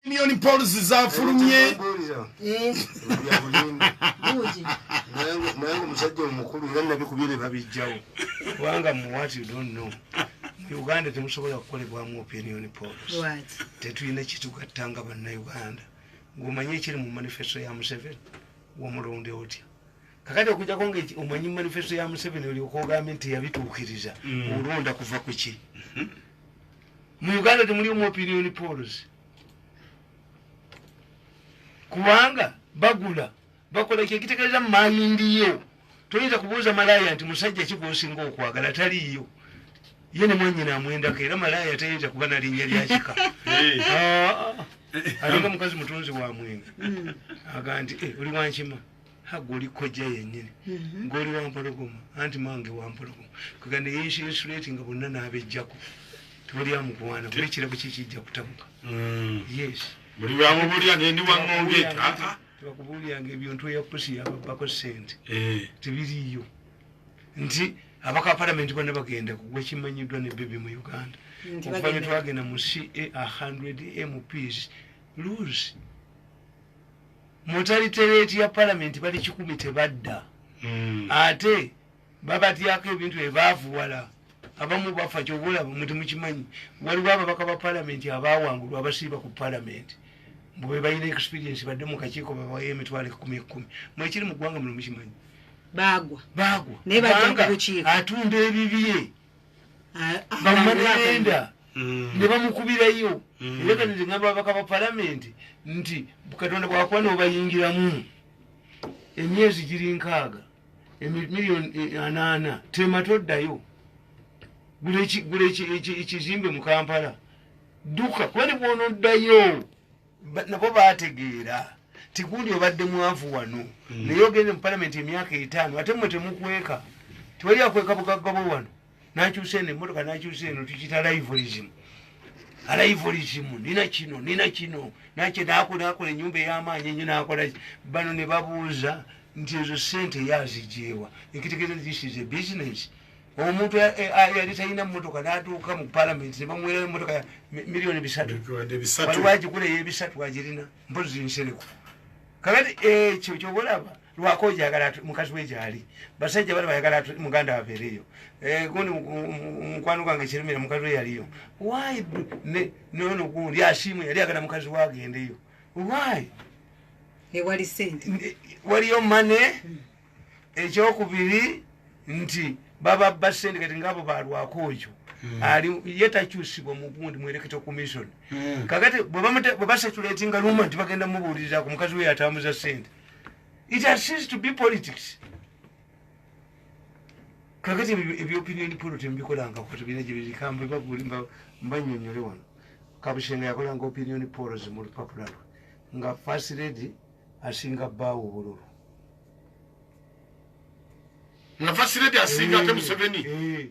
million polls zafulumye nange musajja omukulu era nabikubire babijjawo kubanga muwat you don't know uganda temusobola kukolebwamu opinion polls tetulina kitugatta nga bannauganda ngaomanyi ekiri mu manifesto ya museveni womulonde otya kakati okujako nga omanyi manifesto ya museveni olyoka ogambye nti yabituukiriza mm. olonda kuva kuki mm-hmm. mu uganda temulimu opinion pols kubanga bagula bakola kyekitekereza mumayindiyo toyinza kubuuza malaya nti musajja kigwosinga okwagala taliiyo ye ne mwanyina amwendako era malaya tayinza kuba na linnya lyakika alinga mukazi mutunzi wa mwenge hmm. aga nti eh, oli wankima goli kojja yenyini mhm. goli wampologoma anti mange wampologoma kuga ne yenshinsulating nga bonna n'abejjako tewali amukuwaana kuba ekirabo kye kijja kutabuka mm. yes buli bwamubulira nendi waŋŋongeeta ah, ah. tebakubuuliranga ebintu eyakusi yababako sente eh. tebiriiyo nti abaka palamenti bonna bagenda kugwa ekimanyiddwa ne bebi mu uganda okuva ne twagenda mu ca 100 mps lose mutalitereeti ya palamenti bali kikumi tebadda hmm. ate babatyako ebintu byebaavuwala abamu bafa kyobaolaba muti mukimanyi waliwo ababaka ba palamenti abawangulwa abasiiba ku palamenti mbu bebalina experience badde mu kakiiko babawa emitwalo ekumi ekumi mwekiri mu ggwanga muno mukimanyi bagwa bagwa naye bajja ku bukiiko atunda ebibye bamagenda mm. ne bamukubirayo mm. era kati ngamba babaka ba palamenti nti katonda bwakuba nobayingiramu emyezi giri nkaaga emiliyoni e, anaana tema toddayo gula ekizimbe mu kampala dduka kuba ne bwonoddayo nabo bategeera tigundi obadde mwavu wano mm. naye ogende mu palamenti emyaka etaano ate mwe temukweka tewali akweka bugagga bwe wano nakyusa eno emotoka nakyusa eno tukita livorism alivorism nina kino nina kino nakye nakola akola enyumba eyamaanyi enyo nakola bano ne babuuza nti ezo sente yazijeewa ekitegeeza this is a business omuntu yali talina motoka natuuka mu palamenti nebamuwera emotoka ya miliyoni bisatuwaliwo agikula eyebisatu agirina mpozi nsereko kakati ekyo eh, kyobolaba lwako ojagala mukazi we gyali basajja bali bayagala muganda wabeereyo eh, gundi mukwano gwange kirumira mukazi we yaliyo wy nono gundi asiimu yali agala mukazi we agendeyo wy waliyo mane hmm. ekyokubiri nti baba ba sente kati ngaabo balwako oyo hmm. ali ye takyusibwa mugundi mwereketa commission hmm. kakati bwebasatulatinga luma nti bagenda mubuulirira ku mukazi weyo atambuza sente it has ceased to be politics kakati ebyopinion polotem bikolanga kutubina gyebirikamba bagulimba mbanyonyole wano kabushenga yakolanga opinion polos mu lupapula lwe nga first lady asinga bbaawo obululu nga fasiredi asinga ate eh, museveni eh.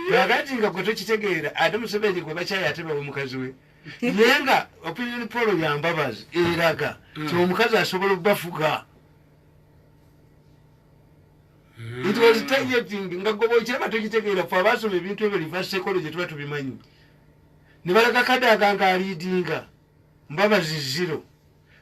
kakati nga gwe tokitegeera ate museveni gwe bakyayi ate bawe mukazi we naye nga opinion polo yambabazi eraga hmm. ti omukazi asobola okubafuga hmm. it was targeting nga goba okiraba tokitegeera fe abasoma ebintu ebyo liva sekolo gye tuba tubimanyi ne balaga kadaga nga aliidinga mbabazi zero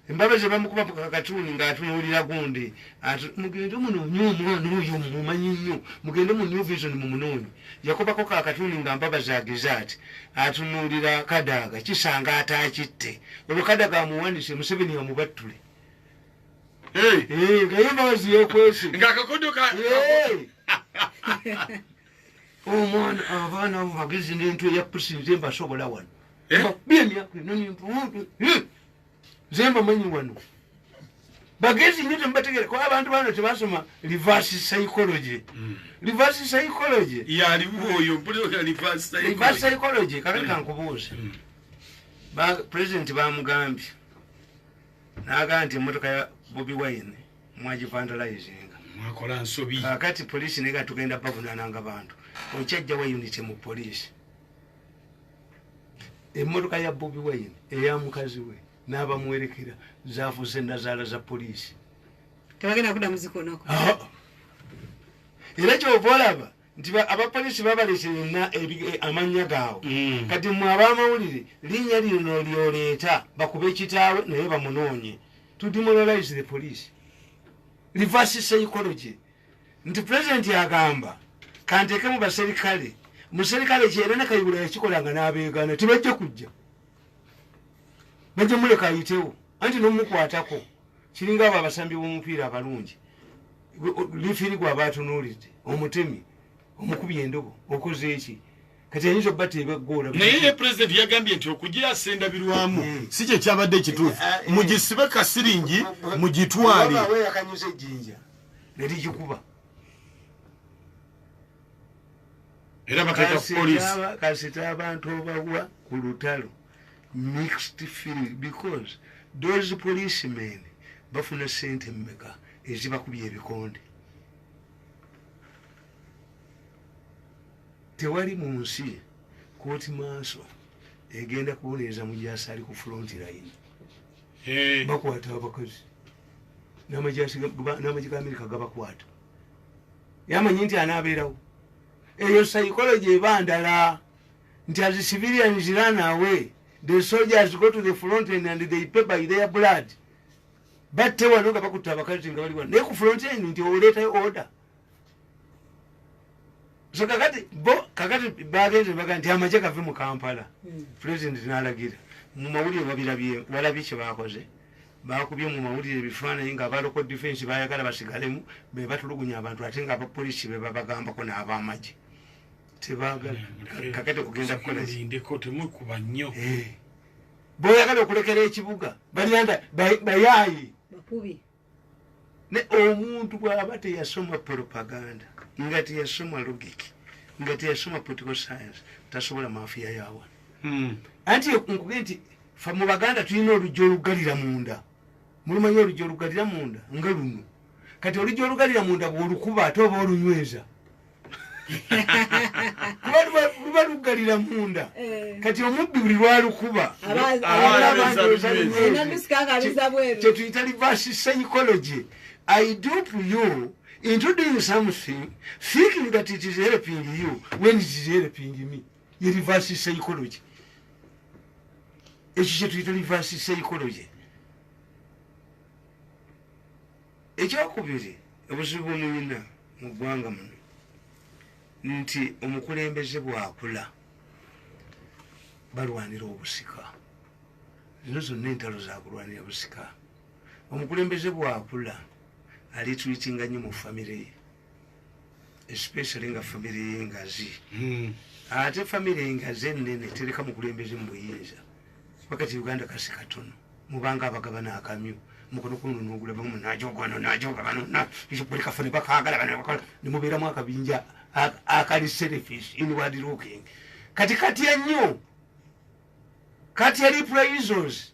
Embabazi bamukuba ku kakatuuni ng'atunuulira gundi ati mugende munoonye omwana oyo mumumanyi nnyo mugende mu new vision mumunoonye yakubako kakatuuni nga mbabazi ageze ati atunuulira kadaaga kisanga ataakitte olwo kadaga amuwanise museveni amubattule nga ye mbabazi yekwese ngakakuduka omwana abaana abo bagezi n'entu eyapusinze mbasobola wano eh? bemyaka enonimpuutu nze mbamanyi wano bagezi nyo temubategere kuba abantu bano tebasoma reverse psychology hmm. reverse psychology reverse psychology kakati hmm. kankubuuza hmm. ba president bamugambye naga nti emotoka ya bobi wine mwagivandalizinga mwakola nsobi kakati polisi nega tugenda bavunananga bantu okyajjawa unity mu polisi emmotoka ya bobi wayini eya mukazi we n'abamuwerekera zaafuuse nazaala za poliisi tebagenda kuda muzikonako ah. era kyova olaba nti abapoliisi babalese yonna eh, amannya gaabwe mm. kati mwe abamawulire linnya lino lyoleeta bakube kitaawe naye bamunoonye tudimoralize the police reverse psychology nti pulezidenti agamba kanteekemu baserikale muserikale kyera ne kayibula yakikolanga n'abeegaana tibajja kujja bajja muleka ayitewo anti nomukwatako kiringa abo abasambi b'omupiira abalungi lifiri gwaba atunuulidde omutemi omukubi endobo okoze eki kati ayinza oba tebegoola naye ye pulezidenti yagambye nti okugya asenda birwamu hmm. si kye kyabadde ekituufu eh, eh, eh. mugisibe kasiringi mugitwale ne ligikuba era bateeka ku poliisi kasita abantu obawa ku lutalo mixed feeling because those police men bafuna sente mmeka ezibakubya ebikonde tewali mu nsi kooti maaso egenda kubonereza mujaasi ali ku front line bakwata abakozi n'amagye ga amerika gabakwata yamanyi nti anaabeerawo eyo psychology eba ndala nti as civilians run away the soldiers go to the fronten and they pay by their blood batte wano nga bakutta abakazi nga bali wano naye ku fronten nti oleetayo order so kakati bo kakati bagenze baga nti amaje gave mu kampala hmm. president nalagira mu mawulire babirabye walabye kye bakoze bakubye mu mawulire ebifaananyi nga abaloko defense bayagala basigalemu bebatulugunya abantu ate nga abapolisi bebabagambako n'abamaje tebagala hmm. kakati kugenda kukolazindeko temukuba nnyo eh. boyagala okulekera ekibuga balanda bayayi ne omuntu bwaba teyasoma propaganda nga teyasoma logic nga teyasoma political science tasobola mafiya yawa hmm. anti nkuge nti fa mu baganda tulina oluggi olugalira munda mulumanyi oluggi olugalira munda nga luno kati oluggi olugalira munda bwolukuba ate oba olunyweza luba luggalira munda eh. kati omubbi buli lwalukuba kyetuyita reverse psychology i dup you into doing something thinking that it is helping you when it is helping me ye reverse psychology ekyo kyetuyita reverse psychology ekyokubiri obuzibu bwemuyina mu ggwanga muno nti omukulembeze bwakula balwanira obusika zino zonna entalo zakulwanira busika omukulembeze bwakula alitwitinga nyo mu famiry ye especially nga famire yengazi hmm. ate famire engazi enene tereka mukulembeze mubuyinza wakati uganda kasi katono mubanga abagabana akamyu mukono kuno nogula bamu najoga no najoga bano na izo kuli kafone bakagala bano bakala ni mubira mwa kabinja akali selfish in word looking kati kati ya nyo kati ya reprises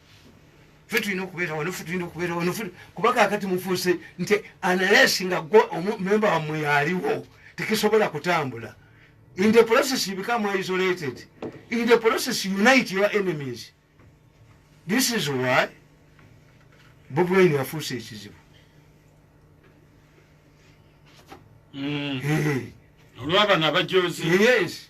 fe tulina okubeera wano fe tulina okubeera wano kuba kakati mufuuse nti analesi nga gwe omumemba wammwe yaliwo tekisobola kutambula in the process you become isolated in the process you unite your enemies this is why bobwaini afuuse ekizibu mm. olwabana abajozi yes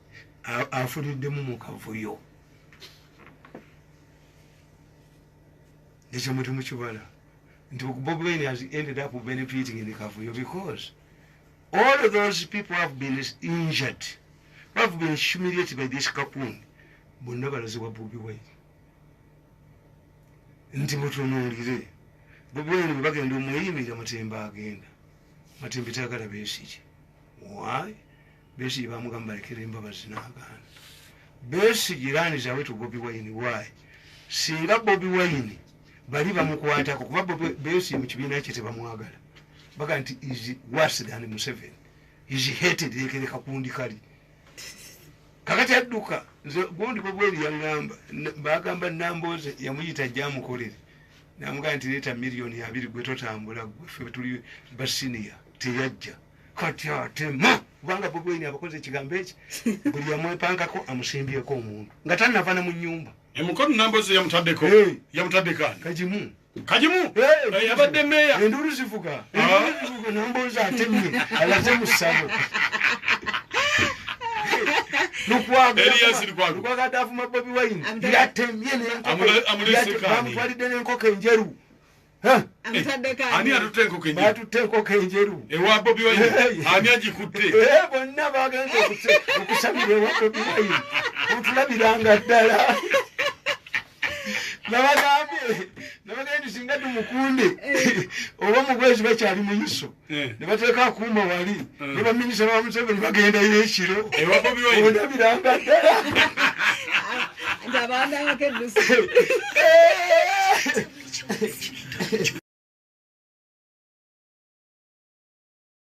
afuliddemu mu kavuyo ekyo muti mukibala nti bob wine has ended up benefiting in kavuyo because all of those people have been injured have been humiliated by this kapun bonna balazibwa bobi wine nti mutunuulire bobi wine bwebagenda omweyimirira matemba agenda matembe tagala besiki why Besigye bamugamba balekera embabazi n'agaana. Besigye iraani zawe to Bobi Wine why? Singa Bobi Wine bali bamukwatako kuba Besigye mu kibiina kye tebamwagala baga nti is worse than Museveni is hated yekereka kundi kali kakati adduka nze gundi Bobi Wine yangamba bagamba Nambooze yamuyita jamukolere namugaa nti leeta miliyoni abiri gwe totambula gwe fe tuli basiniya teyajja kati atema kubanga bobi wine abakoze ekigambo eki buli yamwepankako amusimbyeko omuntu nga tanava ne mu nyumba emukono nambozi yamutaddeko yamutaddeko ani kagimu kagimu eh, yabadde meya enduulu zivuga ah. nambozi atemye alaze mu ssabo lukwagade avuma bobi wine yatemye bamutwalidde n'enkoko enjeru ani atutte enkoko enjeru atutte enkoko enjeru ewa bobi wine ani agikutte bonna bagenda okusabira ewa bobi wine otulabiranga ddala nabagambye nabagambye singa tumukunde oba mu bwezi bakyali mu iso Eh. nebateeka akuuma wali eh. ne baminisita ba museveni bagendayo ekiro ondabiranga ddala